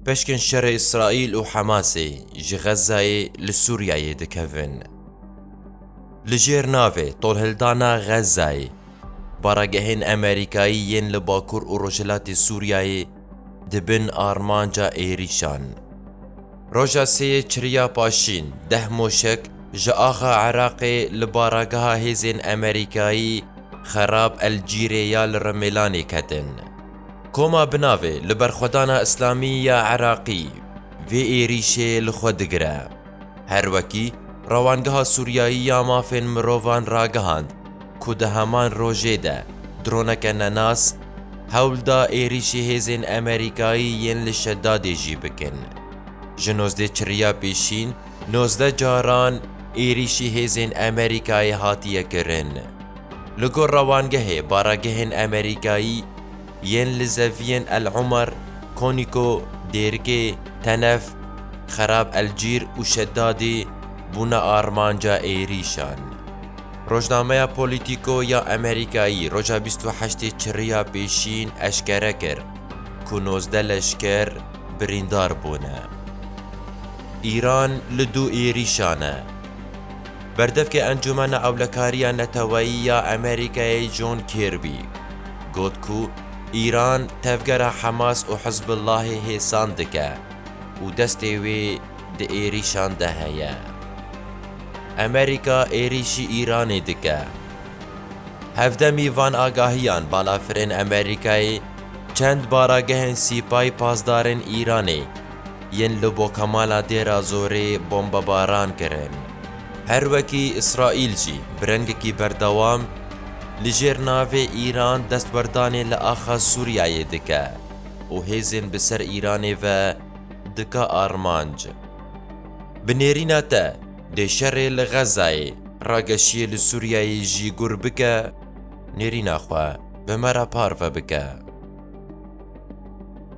Pişkên şerê Îsraîl û Hemasê ji Xezzayê li Sûriyeyê dikevin. Li jêr navê Tolhildana Xezzayê, baragehên Emerîkayî yên li Bakur û Rojhilatê Sûriyeyê di bin armanca êrîşan. Roja sêyê çiriya paşîn deh moşek ji axa Iraqê li barageha hêzên Emerîkayî Xerab El Cîrê ya li Rimêlanê ketin. Koma bi navê Li Berxwedana Îslamî ya Iraqî vê êrîşê li xwe digire. Her wekî Rewangeha Sûriyayî ya Mafên Mirovan ragihand ku di heman rojê de droneke nenas hewl da êrîşî hêzên Amerîkayî yên li Şedadê jî bikin. Ji nozdeh çirriya pêşîn nozdeh caran êrîşî hêzên Amerîkayê hatiye kirin. Li gor rewangehê baragehên Amerîkayî yên li zeviyên El Umar, Konîko, Dêrikê, Tenef, Xerab El Cîr û Şedadê bûne armanca êrîşan. Rojnameya Polîtîko ya Amerîkayî roja bîst û heştê Çirriya pêşîn eşkere kir ku nozdeh leşker birîndar bûne. Îran li du êrîşan e. Berdevkê Encûmena Ewlekariya Neteweyî ya Amerîkayê John Kirby got ku Îran tevgera Hemas û Hizbullahê hêsan dike û destê wê di êrîşan de heye. Amerîka êrîşî Îranê dike. Hevdemî van agahiyan balafirên Amerîkayê çend baragehên sîpayî pasdarên Îranê, yên li Bokamala Dêra Zorê bombebaran kirin. Her wekî Îsraîl jî bi rengekî berdewam li jêr navê Îran destwerdanê li axa Sûriyeyê dike û hêzên bi ser Îranê ve dike armanc. Bi nêrîna te dê şerê li Xezayê rageşiyê li Sûriyeyê jî gur bike, nêrîna xwe bi me re parve bike.